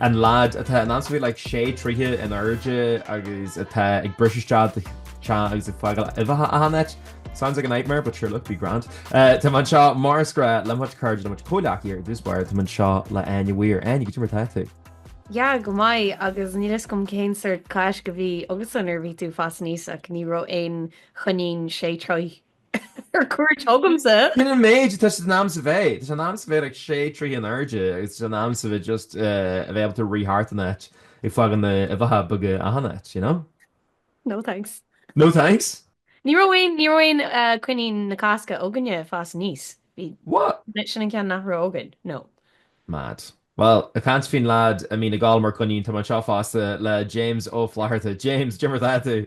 An leaid atá in ansa bhí like sé troighthe in airde agus atá ag briseadh isteach i do theach agus ag fágáil uibheacha achan áit. Sounds like a nightmare but sure look be grand. Táim anseo mar is gnáth le mo chairde le mo chomhghleacaithe ar dtús báire. Táim anseo le Áine Weir. Áine, goidé mar atá tú? Yeah, go maith agus níl fhios agam cén sórt Cáisc a bhí agatsa nuair a bhí tú ag fás aníos ach, ní raibh aon choinín sé troighthe Ar cuairt chugamsa. Sin an méid, tá sé in ainm is a bheith, tá sé in ainm is a bheith like sé troithe in airde agus tá sé in ainm is a bheith just eh, a bheith ábalta rith thart an áit ag fágáil na huibheacha beaga achan áit, you know? No thanks. No thanks? Ní raibh aon, ní raibh aon eh, coinín na Cásca againne ag fás aníos. Bhí, What? sin, sin an ceann nach raibh againn, no. Mad. Bhuel, ag caint faoin leaid a mbíonn ag gabháil mar coinín, tá mé anseo fosta le James Ó Flatharta. James, goidé mar atá tú.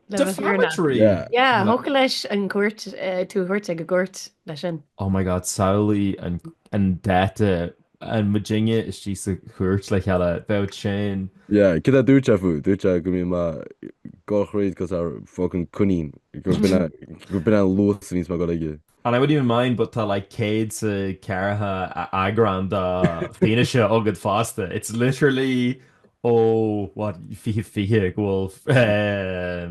Defamatory! Yeah, thiocfadh leis an gcúirt, tú a thabhairt ag an gcúirt leis sin. Oh my god, samhlaigh an dá dtiocfadh muidinne istigh sa chúirt le chéile, bheadh sin. Yeah, cad a dúirt sé fút? Dúirt sé go mbíonn mé go gcaithfeadh cosa fucking coinín, go mbíonn an luas níos mó go fóill aige. And I wouldn't even mind but tá like céad is a ceathracha eagrán de fianaise agad fosta. It's literally ó what fiche fiche go bhfuil eh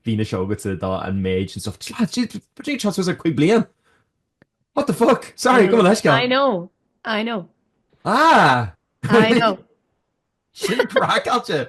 fianaise agatsa de an méid and stuff. Tsla jeez bhí sé ag teacht suas ar cúig bliain! What the fuck? Sorry gabh mo leithscéal. I know, I know. Ah! I know. Sin craiceáilte!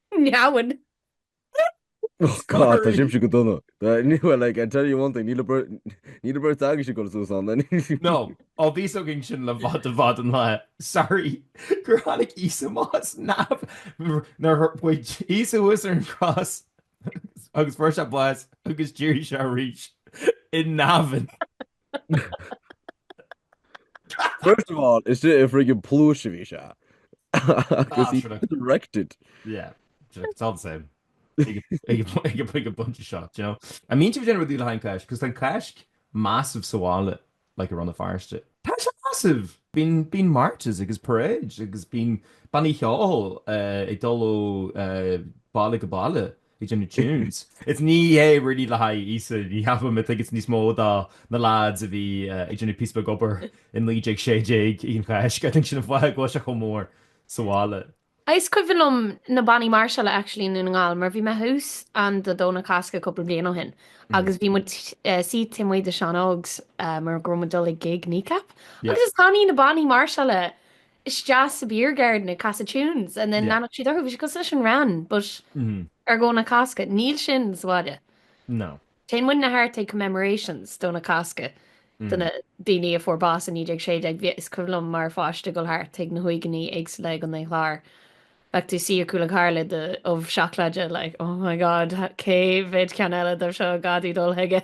Neamhain. Oh God, tá sibhse go dona. Ní bhfuil like, I tell you one thing, níl an beirt agaibhse ag dul suas ann. No, ó bhí a fhios againn sin le fada fada an lae. Sorry, gur tháinig Íosa anuas ó Neamh no wait bhí Íosa thuas ar an gcrois agus fuair sé bás agus d'éirigh sé arís i neamhain. First of all, is i friggin pluais a bhí sé. Agus he resurrected. Yeah, it's all the same. Ag an bunch seo, do you know? An mbíonn sibh ag déanamh rudí le haghaidh an Cháisc, cos tá an Cáisc massive sa bhaile, like i Rann na Feirste. Tá sé massive! Bíonn marches agus parades agus bíonn bannaí ceoil ag dul ó baile go baile Ag déanamh tunes. It's ní hé really le haghaidh Íosa, ní cheapaim, I think it's níos mó do na lads a bhí ag déanamh píosa beag obair in 1916 ag an Cháisc, I think sin an fáth go bhfuil sé chomh mór sa bhaile. Is cuimhin liom na bannaí máirseála actually i nDún na nGall mar bhí mé thuas ann do Dhomhnach Cásca cúpla bliain ó shin agus bhí muid suite amuigh de Seán Ógs mar go raibh muid dul ag gig Kneecap agus is tháinig na bannaí máirseála isteach sa beer garden ag casadh tunes and then leanfadh siad orthu, bhí siad cosúil leis an Wran but ar Dhomhnach Cásca. Níl sin sa bhaile. No. Téann muidne thart ag commemorations Domhnach Cásca do na daoine a fuair bás i 1916, bhí, is cuimhin liom mar pháiste ag dul thart chuig na huaigheanna éagsúla i gContae an Chláir, bheadh tú suí ar cúl an chairr le do ubh seacláide like oh my god cé mhéid ceann eile dóibh seo, gá dúinn dul chuige.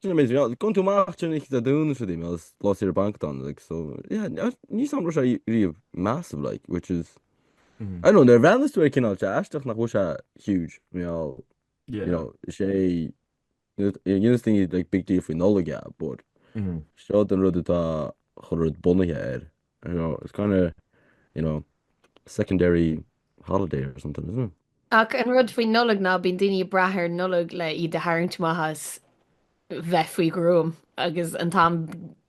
Sin a mbeidh sé. Gabhann tú amach trína fhichid ar dúnadh sa duine agus lá saoire banc atá ann like so yeah níl 's agam an raibh sé riamh massive like which is I don't know nuair a bhreathnas tú air cineál sé aisteach nach bhfuil sé huge I mean I'll you know is é dhéanfas daoine like big deal faoi Nollaig yeah but seo é an rud atá achan rud bunaithe air you know, it's kind of, you know, secondary holiday or something, isn't it? Ach an rud faoin Nollaig ná bíonn daoine ag brath ar an Nollaig le iad a tharraingt amach as bheith faoi gruaim agus an t-am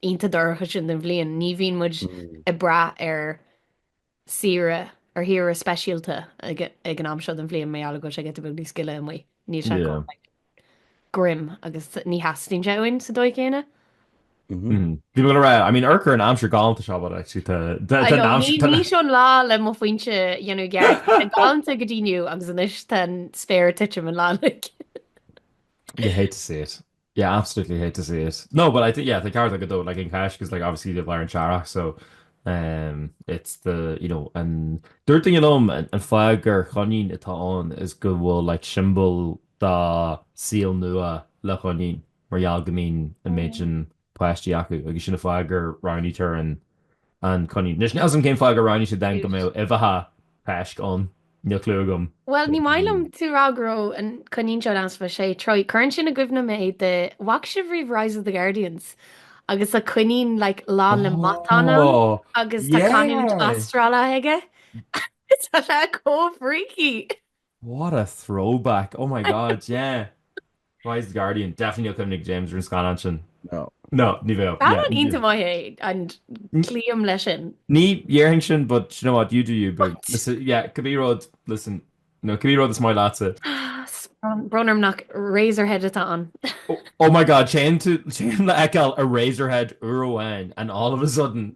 ionta dorcha sin den bhliain, ní bhíonn muid Mm. ag brath ar saoire ar shaoire speisialta ag ag an am seo den bhliain mar gheall go bhfuil sé giota beag níos gile amuigh. Níl sé Yeah. grim agus ní theastaíonn sé uainn sa dóigh chéanna. I mean urchar an aimsir galánta seo but actually tá I know, ní ní seo an lá le mo phointe a dhéanamh gearr. Tá galánta go dtí inniu agus anois tá an spéir ag titim an lá uilig. You hate to see it. You absolutely hate to see it. No but I think yeah tá ceart agat though like an Cháisc because like obviously tá sé i lár an earraigh so um it's the you know an dúirt duine liom an fáth gur Choinín atá ann is go bhfuil like symbol de saol nua le choinín mar gheall go mbíonn an méid sin páistí acu agus sin an fáth gur roghnaítear an an coinín. Anois, níl 's agam cén fáth gur roghnaítear then go mbeadh uibheacha Cásca ann, níl clue agam. Bhuel, ní maith liom tú ag rá go raibh an coinín seo in easpa sé troigh, cuireann sin i gcuimhne mé de, an bhfaca sibh riamh Rise of the Guardians? agus tá coinín like lán le matáin ann agus tá canúint Astrála aige? Tá sé chomh freaky! What a throwback! Oh my God, yeah! Rise of the Guardian, definitely níl cuimhne ag James ar an scannán sin. No. No, ní bheadh. Scannán ionta maith é and cloím leis sin. Ní dhéarfainn sin but do you know what, you do you boo. What? Yeah, cibé rud, listen, no, cibé rud is maith leatsa. Brón orm nach Eraserhead atá ann. Oh my God, téann tú, téann le fheiceáil Eraserhead uair amháin and all of a sudden.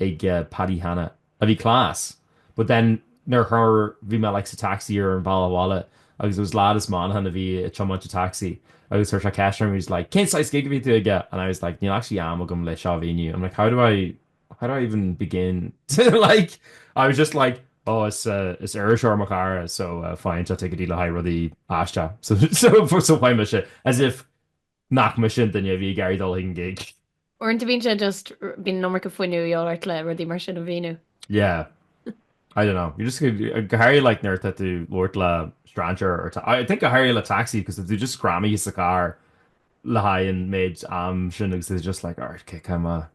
ag Paddy Hanna, a bhí class, but then nuair a chuir, bhí mé like sa taxi ar an bhealach abhaile agus it was lad as Muineachán a bhí ag tiomáint an taxi agus chuir sé ceist orm, he was like cén saghas gig a bhí tú aige and I was like níl actually am agam le seo a mhíniú, I'm like how do I, how do I even begin to like, I was just like oh is, is iriseoir mo chara so faigheann sé ticéidí le haghaidh rudaí aisteach so, so, so faigheann mise, as if. Nach mise an duine a bhí ag iarraidh dul chuig an gig? Uaireanta bíonn sé just, bíonn an iomarca fuinneamh a dhíobháil ort le rudaí mar sin a mhíniú. Yeah. I don't know. You just, go háirithe like nuair atá tú labhairt le strainséir or I think go háirithe le taxi cos tá tú just greamaithe sa charr le haghaidh an méid am sin agus it's just like, alright, okay, cá mé?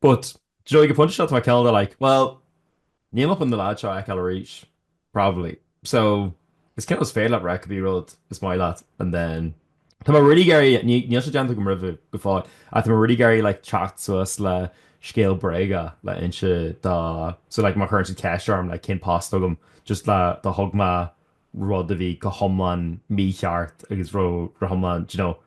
But, do you know, ag an pointe seo tá mé cineál de like, well, níl mé chun an leaid seo a fheiceáil arís, probably. So, it's cineál is féidir leat rá cibé rud is maith leat and then, tá mé really ag iarraidh, ní, níl sé déanta agam roimhe go fóill, ach tá mé really ag iarraidh like teacht suas le scéal bréige le inse dó, so like má chuireann siad ceist orm like cén post agam, just le, do thug mé rud a bhí go hiomlán mícheart agus raibh, raibh hiomlán, do you know,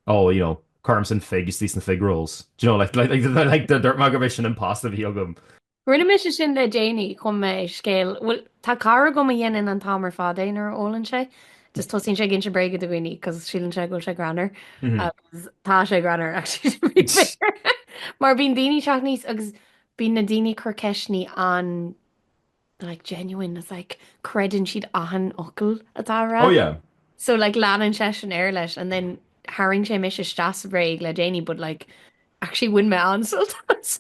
oh, you know, cuirimse an fig istigh sna fig rolls, do you know, like, like, like, like, dúirt mé go mb'é sin an post a bhí agam. Rinne mise sin le déanaí, chum mé scéal, bhuel, tá cara agam a dhéanann an t-am ar fad é nuair a ólann sé, just tosaíonn sé ag inse bréaga do dhaoine cos síleann sé go bhfuil sé greannmhar, agus tá sé greannmhar, actually, to be fair, mar bíonn daoine teacht aníos agus bíonn na daoine ag cur ceisteannaí an, like genuine it's like creideann siad achan fhocal atá á rá. Oh yeah. So like leanann seisean air leis and then tharraing sé mise isteach sa bhréag le déanaí but like actually bhain mé an-sult as.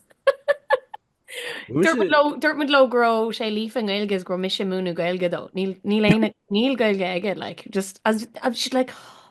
Dúirt muid leo go raibh sé líofa i nGaeilge is go raibh mise ag múineadh Gaeilge dó. Níl Gaeilge aige like just as if she's like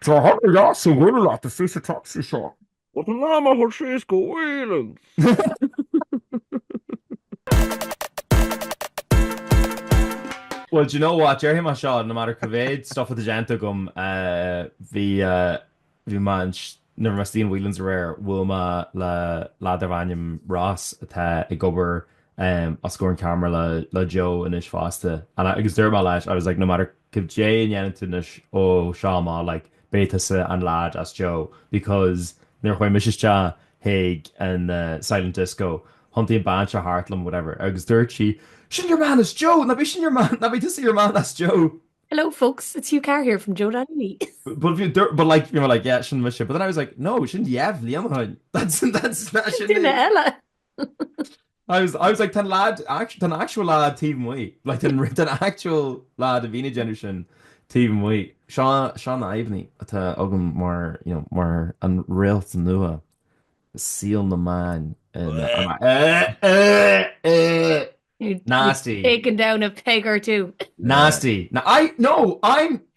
Tá thar a leas a bhfuil leat, is é sa tacsaí seo. What an am a chuir síos go Whelan's? Well do you know what, déarfaidh mé seo, no matter cá mhéad stuff atá déanta agam, bhí, bhí mé an, nuair a bhí mé istigh in Whelan's aréir, bhuail mé le leaid darb ainm Ross atá ag obair os comhair an ceamara le Joe anois fosta agus dúirt mé leis, I was like, no matter, goidé a ndéanann tú anois ó seo amach like beidh tusa an lad as Joe because nuair a chuaigh mise isteach chuig an silent disco thiontaigh an bean seo thart liom whatever agus dúirt sí Sin your man as Joe! Nach b'é sin your man, nach b'é tusa your man as Joe! Hello folks, it's Hugh Carr here from Joe dot ie. But you dúirt, but like you were like yeah sin mise but then I was like no sin dheich bhliain ó shoin, that's, that's, sin duine eile! I was, I was like, tá an lad, act- tá an actual lad taobh amuigh. Like, tá an ri- tá an actual lad a bhíonn ag déanamh sin taobh amuigh. Seo, seo na fadhbannaí atá agam mar, you know, mar an réalt nua, saol na meán. And, and I, eh, eh, eh. Nasty. Taken down a peg or two. Nasty. Now, I, no, I'm,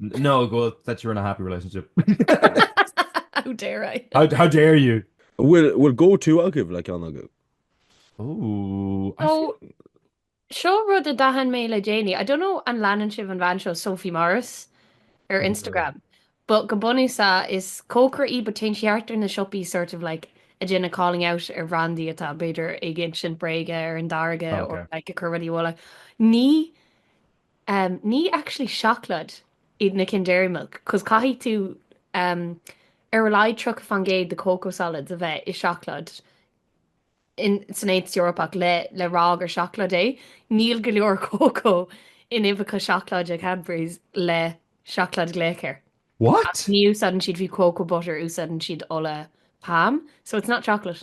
No, go bhfuil that you're in a happy relationship. How dare I? How how dare you? Bhfuil bhfuil go to agaibh le ceann agaibh? Ooh, I So, feel. seo rud a d'aithin mé le déanaí, I don't know an leanann sibh an bhean seo Sophie Morris ar Ní dóigh. Instagram but go bunúsach is cócaire í but téann sí thart ar na siopaí sort of like ag déanamh calling out ar bhrandaí atá b'fhéidir ag insint bréige ar an dtáirge Tá, or okay. like ag cur rudaí i bhfolach. Ní em ní actually seacláid iad na cinn dairy milk cos caithfidh tú em ar a laghad tríocha faoin gcéad de cocoa solids a bheith i seacláid in san Aontas Eorpach le le rá gur seacláid é, níl go leor cócó in uibheacha seacláide Cadburys le seacláid glaoch air. What? Ní úsáideann siad fiú cocoa butter, úsáideann siad ola palm, so it's not chocolate.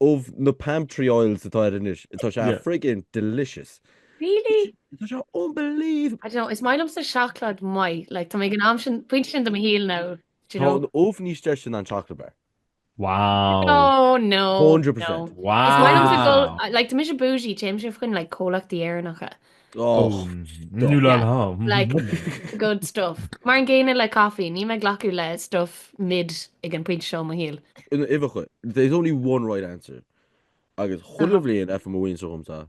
Of na palm tree oils atá air anois. Tá sé Yeah. friggin delicious. Really? Tá sé unbelievable. I don't know, is maith liomsa seacláid maith, like tá mé ag an am sin, pointe sin de mo shaol now, do you Tá know? an ubh níos deise ná an chocolate bar. Wow. No, no, 100%. no. Is maith liomsa dul, Wow. like tá mise bougie, téimse fá choinne like comhlachtaí Éireannacha. Good stuff. Mar an gcéanna le caifé, níl mé ag glacadh le stuff mid ag an bpointe seo i mo shaol. Uibheacha, there's only one right answer agus chuile bhliain faigheann mo mhuintir dhomsa,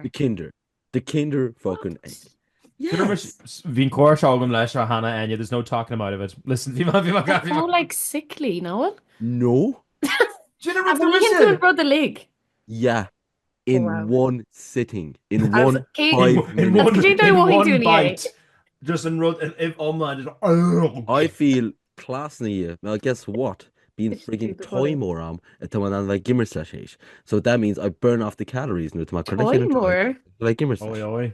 the kinder, the kinder fucking egg. Bhí an comhrá seo agam leis seo cheana, Enya, there's no talking him out of it. Listen, bhí mé, bhí mé, It's more like sickly, no? No. Bhí an rud uilig. Yeah. in one sitting, in one five minutes, in one bite, just an rud an ubh iomlán, just urgh. I feel class na dhiaidh, well guess what, bíonn friggin toy mór a'm atá mé in ann a bheith ag imirt leis théis, so that means I burn off the calories nuair atá mé curtha le chéile, tá mé curtha le chéile ag imirt leis.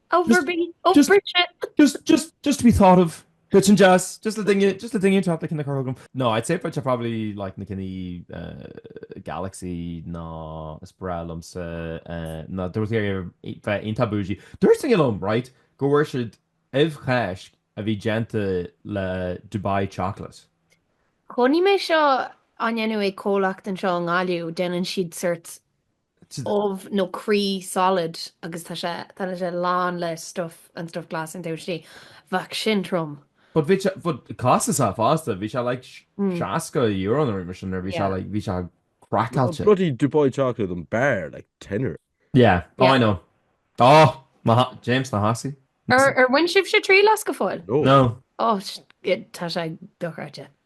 Ubh ar bith, ó Bridget. Just, just, just to be thought of. Bheadh sin deas, just le duine, just le duine inteacht ceann a chur chugam. No, I'd say for they're probably like na cinn Galaxy nó is breá liomsa nó dá mbeadh tú ag iarraidh bheith iontach bougie. Dúirt duine liom, right, go bhfuair siad ubh Cháisc a bhí déanta le Dubai chocolate. Chonaic mé seo á ndéanamh ag comhlacht anseo i nGaillimh, déanann siad sort ubh nó croí solid agus tá sé, tá sé lán le stuif, an stuif glas in dtús di. Bheadh sin trom. But bhí sé, but costasach fosta, bhí sé like €60 nó rud mar sin, bhí sé like, bhí sé craiceáilte. Bloody Dubai Chocolate an bar, like tenner. Yeah, oh I know. Oh! na ha, James, na hAssie. Ar bhain sibhse triail as go fóill? No. No. Oh, tá sé dochreidte.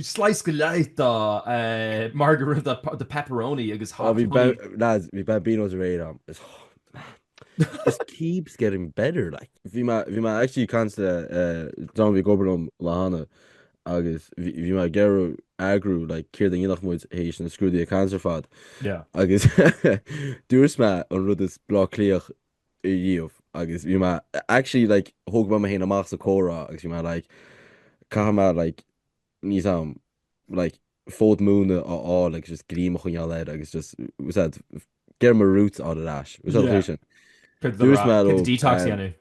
Slice go leith de margarita, de pepperoni agus hot honey. Oh, bhí, lads, bhí Bambinos aréir ann. It's, man, this keeps getting better, like. Bhí mé, bhí mé actually ag caint le duine a bhí ag obair liom an lá cheana agus bhí, bhí mé ag iarraidh eagrú, like, céard a dhéanfadh muid tar éis na scrúduithe cainte ar fad. Yeah. Agus dúirt mé an rud is Bleá Cliathach riamh agus bhí mé actually like thóg mé mé féin amach sa comhrá agus bhí mé like caithfidh mé like níl a fhios a'm like fód móna a fháil agus just greim a choinneáil air agus just was that get my roots out of that was that sin dúirt mé detox a dhéanamh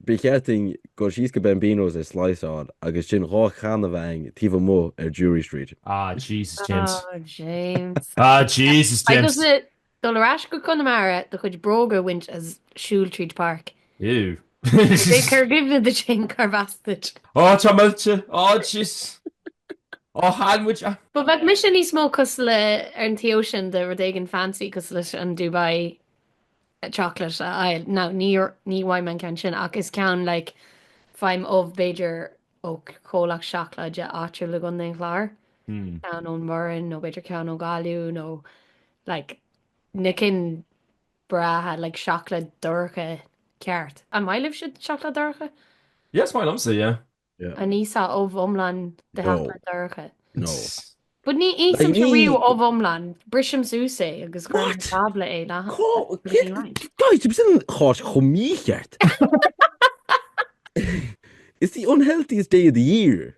ba cheart dúinn gabháil síos go Bambinos is slice a fháil agus sin dhá channa a bheith againn taobh amuigh ar Drury Street. Ah Jesus James oh, James Ah Jesus James. Dul ar ais go Conamara, do chuid bróga a bhaint is siúl tríd páirc. B'fhé' cur i gcuimhne duit fhéin cárb as duit. Ó, táim millte! Ó, jeez! Ó, tháinig muid a. Bheadh mise níos mó cosúil le ar an taobh sin de rud éigin fancy cosúil leis an Dubai Chocolate a fháil. Now, ní ní fhaighim an ceann sin ach is ceann like faighim ubh b'fhéidir ó chomhlacht seacláide áitiúil i gContae an Chláir, ceann ón mBoireann nó b'fhéidir ceann ó Ghaillimh nó Like na cinn bhreátha, like seacláid dorcha ceart. An maith libhse seacláid dorcha? Yeah, is maith liomsa, yeah. Yeah. An íosfá ubh iomlán de No. sheacláid dorcha? No. But ní ithimse, like, ní- riamh ubh iomlán, brisim suas é agus cuirim What? tábla é le Cá- Bhí sí right. Guys, tá sin cháis chomh mícheart. It's the unhealthiest day of the year.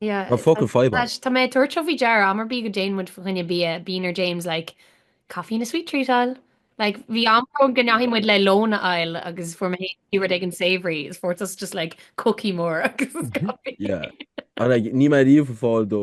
Yeah, Tá fucking fadhb ann. tá mé ag tabhairt seo faoi deara, am ar bith go dtéann muid fá choinne bia, bíonn ar James like, coffee and a sweet treat a fháil. Like, bhí am ann go ndeachaigh muid le lón a fháil agus fuair mé féin rud éigin savoury is fuair tusa just like cookie mór agus coffee. Yeah. And like, níl mé riamh ag fáil dó.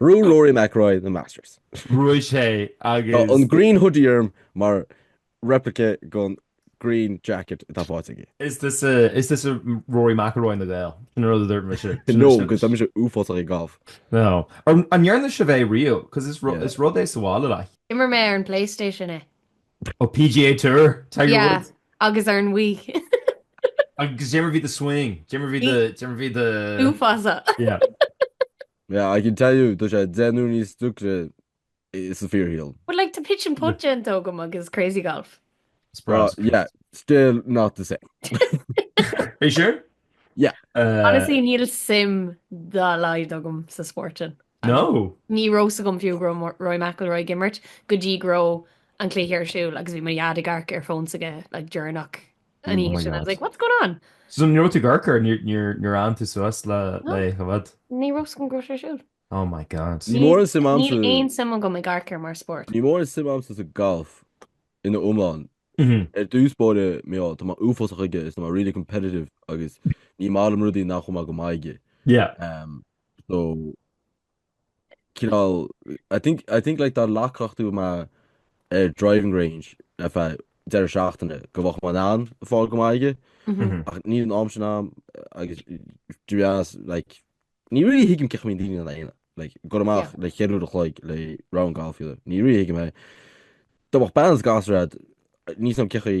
Bhuaigh Rory McIlroy na Masters. Bhuaigh sé agus. Tá an green hoodie orm mar replica den green jacket atá faighte aige. Is tusa Rory McIlroy na nGael. Sin an rud a dúirt mise. No, agus tá mise uafásach ag golf. No. An ndearna sibh é riamh? Cos is rud é sa bhaile like. D'imir mé ar an PlayStation é. Oh, PGA Tour, Tiger Woods. Yeah, agus ar an Wii. Agus cad é mar a bhí do swing? Cad é mar a bhí do. Uafásach. Yeah. Yeah, I can tell you, tá sé deich n-uaire níos deacra san fhíorshaol. But like tá pitch and putt déanta agam agus crazy golf. Well, yeah, still not the same. Are you sure? Yeah. Uh, Honestly, níl suim dá laghad agam sa spórt sin. No. Ní raibh a fhios agam fiú go raibh Mo- Rory McIlroy ag imirt go dtí go raibh an cluiche ar siúl agus bhí mo dhaid ag amharc ar fón s'aige like deireanach an oíche sin, I was like, what's going on? So ní raibh tú ag sacar, níor fhan tú suas lena aghaidh? Ní raibh a fhios agam go raibh sé ar siúl. Oh my God. Níl mórán suim agamsa. Níl aon suim agam i ngalf mar spórt. Níl mórán suim agamsa sa golf ina iomlán. Ar dtús báire mar, tá mé uafásach aige is tá mé really competitive agus ní maith liom rudaí nach bhfuil mé go maith aige. Yeah. So. cineál I think, I think like dá leagfadh tú mé ar driving range ar feadh deireadh seachtaine go mbeadh mé in ann fáil go maith aige ach níl an am sin agam agus to be honest like ní really thuigim cén chaoi a mbíonn daoine in ann like goil Yeah. amach le ceithre huaire an chloig le round golf fiú ní really thuigim é dá mbeadh bean is gasúir agat níl a fhios agam cén chaoi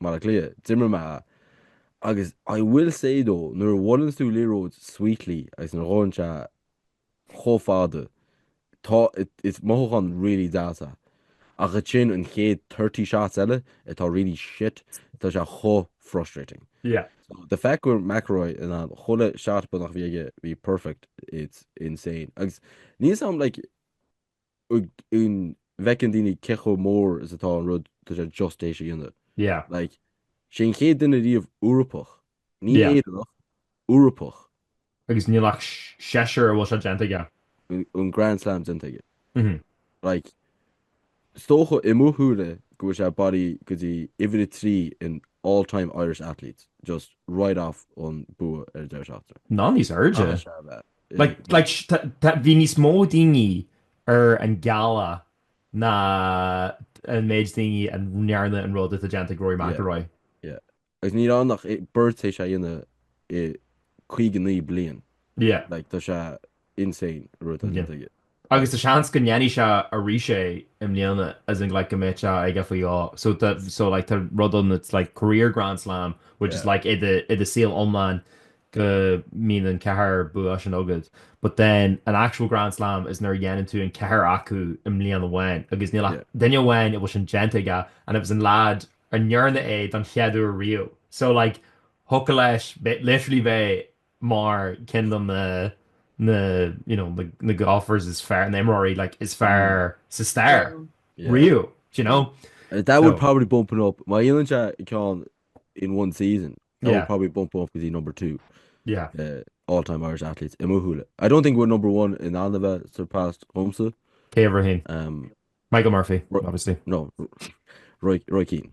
Mar a cleath, d'imir mé a. Agus I will say though, nuair a bhuaileanns tú liathróid sweetly agus nuair a ghabhann sé chomh fada, tá, is mothúchán really deas é. Ach ansin an chéad thirty shots eile atá really shit, tá sé chomh frustrating. Yeah. So the fact go raibh McIlroy in ann chuile shot beagnach a bheith aige bheith perfect, it's insane. Agus níl a fhios agam like, an bhfeiceann daoine cé chomh mór is atá an rud tá sé just théis a dhéanamh. Yeah. Like, is é an chéad duine riamh Eorpach, ní Yeah. Éireannach, Eorpach, Agus níl ach s- seisear a bhfuil sé déanta aige. an, an Grand Slam déanta aige. Mhm. Like, is dócha, i mo shúile-sa, go bhfuil sé bailí go dtí uimhir a trí in all time Irish athletes, just right off ón mbua ar an deireadh seachtaine. Nó níos airde. Caithfidh sé a bheith. Like, bhí níos mó daoine ar an gealach ná an méid daoine a ndearna an rud atá déanta ag Rory McIlroy. Yeah, agus ní raibh ann ach beirt tar éis é a dhéanamh i 59 bliain. Yeah. Like, tá sé insane an rud atá. Yeah. Agus tá seans go ndéanfaidh sé arís é i mbliana, as in like go mbeidh sé aige faoi dhó. So tá so like tá rud ann that's like career Grand Slam which is Yeah. like i do i do saol iomlán go mbíonn an ceathair bua sin agat. But then an actual Grand Slam is nuair a dhéanann tú an ceathair acu i mbliain amháin agus níl ach Yeah. duine amháin a bhfuil sin déanta aige and it was an lad a ndearna é don chéad uair riamh. So like thiocfadh leis bheith literally bheith mar cén dom na na you know na na golfers is fearr na imreoirí like is fearr sa stair riamh do you know That would so probably bump it up. Má dhéanann sé ceann in one season, that would yeah probably bump him up go dtí number two yeah uh, all-time Irish athletes i mo shúile. I don't think we're number one in ann a bheith surpassed dhomsa. cé a bhruithfinn Um, Michael Murphy Ro- obviously no, Roy, Roy Keane.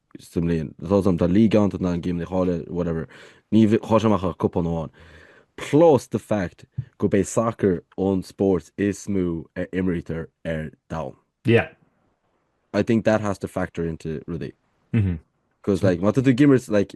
sa mbliain, atá ann, tá league ann do na gcéimeanna eile, whatever, ní hamháin ach cupán amháin, plus the fact gurb é sacar an spórt is mó a imrítear ar domhan. Yeah. I think that has to factor into rudaí. Mhm. Cos like, má tá tú ag imirt like,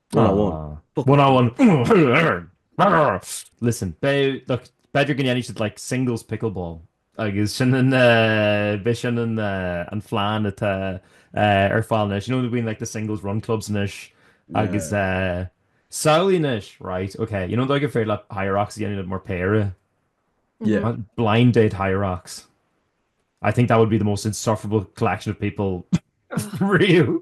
One on one. Listen, look, b'fhéidir go ndéanfaidh siad like singles pickleball agus sin an eh, b'fhéidir sin an eh, an phlean atá eh, ar fáil anois. You know bíonn like the singles run clubs anois agus eh, samhlaigh anois, right, ok, you know an dóigh gur féidir leat Hyrox a dhéanamh mar péire? Yeah. An Blind Date Hyrox. I think that would be the most insufferable collection of people riamh.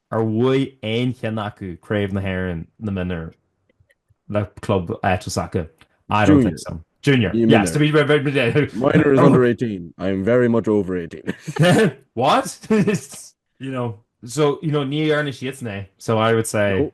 Ar bhuaigh aon cheann acu Craobh na hÉireann na mionúr le club áitiúil s'acu? I don't think so. Junior. Junior. Yes, to be very, very, very... Minor is under eighteen. I am very much over eighteen. What? you know, so, you know, ní dhearna siadsan é. So I would say... No.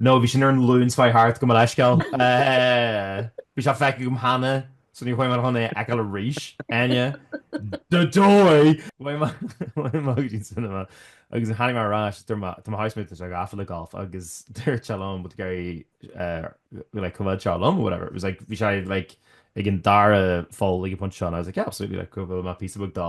No, bhí sin ar an Luan Spy Heart gabh mo leithscéal. Bhí sé feicthe agam cheana so ní chuaigh mé chun é a fheiceáil arís. Ar aon dóigh, bhí mé ag an cinema agus tháinig mé ar ais tá mo housemate anseo gafa le golf agus dúirt sé liom bhfuil tú ag iarraidh like coimheád seo liom or whatever. It was like bhí sé like ag an dara pholl ag an phointe seo and I was like yeah absolutely like go bhfuil mé píosa beag dá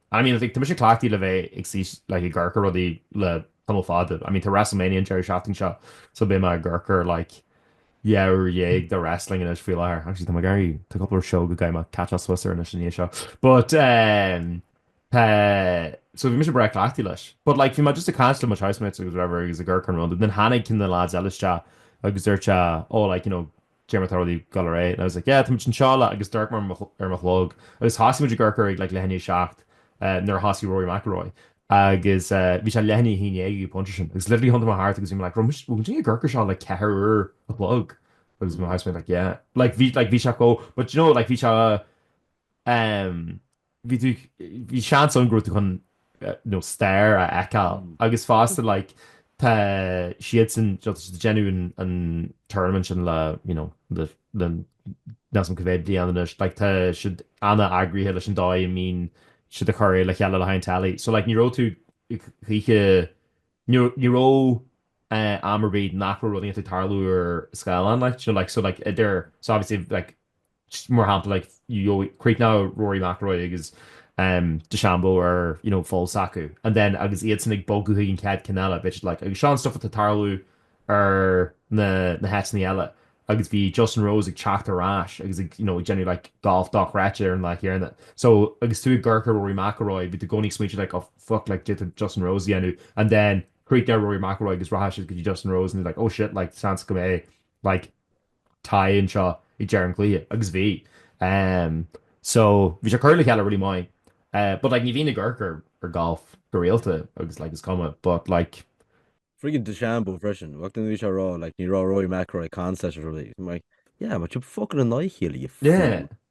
I mean like tá mise cleachtaithe le bheith ag suí like ag amharc ar rudaí le tamall fada. I mean tá WrestleMania an deireadh seachtaine seo so beidh mé ag amharc ar like dhá uair dhéag de wrestling anois faoi láthair. Actually tá mé ag iarraidh, tá cúpla show go gcaithfidh mé catcháil suas air anois ina dhiaidh seo. But eh tá, so bhí mise breá cleachtaithe leis. But like bhí mé just ag caint le mo housemates agus whatever agus ag amharc ar an rud. And then tháinig na lads eile isteach agus dúirt sé oh like you know dé mar tá rudaí ag dul ar aghaidh, and I was like, yeah, tá muid anseo le agus d'amharc mé ar mo chlog agus thosaigh muid ag amharc air like leath i ndiaidh a seacht nuair a thosaigh Rory McIlroy agus bhí sé leath i ndiaidh a haon déag ag an bpointe sin agus literally thiontaigh mé thart agus bhí mé like raibh muid bhfuil muid ag amharc air seo le ceithre uair a chloig agus mo housemate like yeah like bhí like bhí sé chomh but you know like bhí sé um bhí tú, bhí seans ann go raibh tú chun stair a fheiceáil agus fosta like tá siadsan ag déanamh an an tournament sin le you know le le níl a fhios agam cá mhéad bliain anois like tá siad an-eagraithe leis an dóigh a mbíonn siad ag cur é le chéile le haghaidh an teilí so like ní raibh tú choíche ní ní raibh am ar bith nach raibh rud inteacht ag tarlú ar scáileán like do you know like so like idir so obviously like just mar shampla, like, you know, chríochnódh Rory McIlroy agus DeChambeau ar, you know, pholl s'acu and then agus iadsan ag bogadh chuig an chéad cheann eile, bheadh siad, like, agus seo an stuff atá ag tarlú ar na, na háiteannaí eile agus bhí Justin Rose ag teacht ar ais agus ag, you know, ag déanamh, like, golf dochreidte ar an lá chéanna. So, agus tú ag amharc ar Rory McIlroy, bhí tú i gcónaí ag smaointeamh, like, oh, fuck, like, d'fhéadfadh Justin Rose é a dhéanamh and then chríochnódh Rory McIlroy agus rachadh siad go dtí Justin Rose and they're like, oh, shit, like, seans go mbeidh, like, tae anseo ag deireadh an chluiche agus bhí em so bhí sé curtha le chéile really maith eh but like ní bhíonn ag amharc ar ar golf go rialta agus like is cuma but like friggin DeChambeau freisin bhí sé a rá like ní raibh Rory McIlroy ag caint liom really I'm like yeah but you fucking annoy him.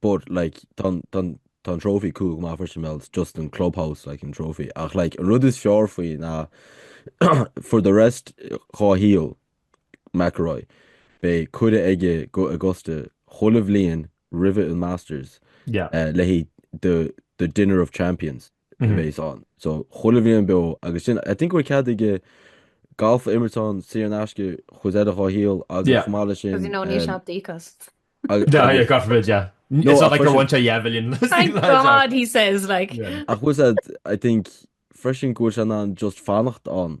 but like tá an, tá an, tá an trophy cool go maith freisin well it's just an clubhouse like an trophy ach like an rud is fearr faoi ná for the rest dhá shaol McIlroy beidh cuireadh aige go Augusta chuile bhliain roimhe an Masters yeah uh, le haghaidh the, the Dinner of Champions a bheas ann. So, chuile bhliain beo agus sin, I think go bhfuil cead aige galf a imirt ann saor in aisce chuid eile dhá shaol agus chomh maith leis sin, Because you know, níl sé um, daor. ag, Yeah, agus, gach rud, yeah. It's no, not ach like they're freisin, one to yeah million. Thank God, he says, like. yeah. ach bhfuil sé, I think, freisin go bhfuil sé in ann just fanacht ann.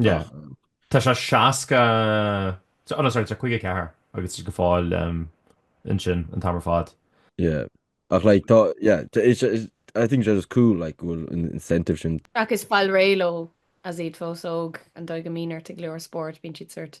Tá sé 60, no sorry, tá sé 54 agus tá siad go fóill ansin an t-am ar fad. Yeah, ach like, tá, yeah, I think sé just cool, like, go bhfuil an incentive sin. Agus fáil réidh leo as iad fós óg, an dóigh go mbíonn ort i go leor spóirt, bíonn siad sórt,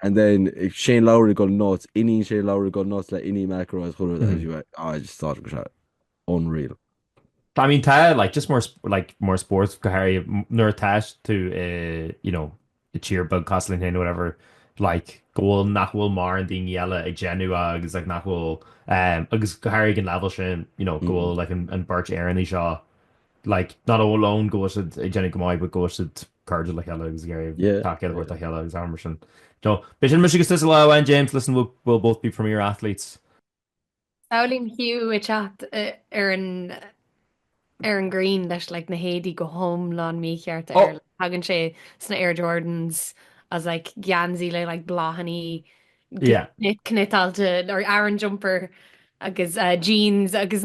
And then Shane Lowry going nuts, iníon Shane Lowry going nuts le iníon McIlroy as well I just thought it was uh, unreal. I mean, tá, like, just mar, like, mar spórt, go háirithe, nuair atá's tú, uh, you know, i dtír beag cosúil linn, whatever, like, go bhfuil nach bhfuil mórán daoine eile ag déanamh agus, like, nach bhfuil, um, agus go háirithe ag an level sin, you know, go mm. bhfuil, like, an, an bheirt Éireannach seo, like, not amháin go bhfuil siad ag déanamh go maith, but go bhfuil siad cairde le chéile agus tacaíocht a thabhairt le chéile agus araile mar sin. Beidh sin mise agus tusa lá amháin James, listen we'll we'll both be premier athletes. Samhlaím Hugh ag teacht ar an ar an green leis like na héadaí go hiomlán mícheart air like tagann sé sna Air Jordans as like geansaí le like bláthannaí cni cniotáilte or aran jumper agus eh jeans agus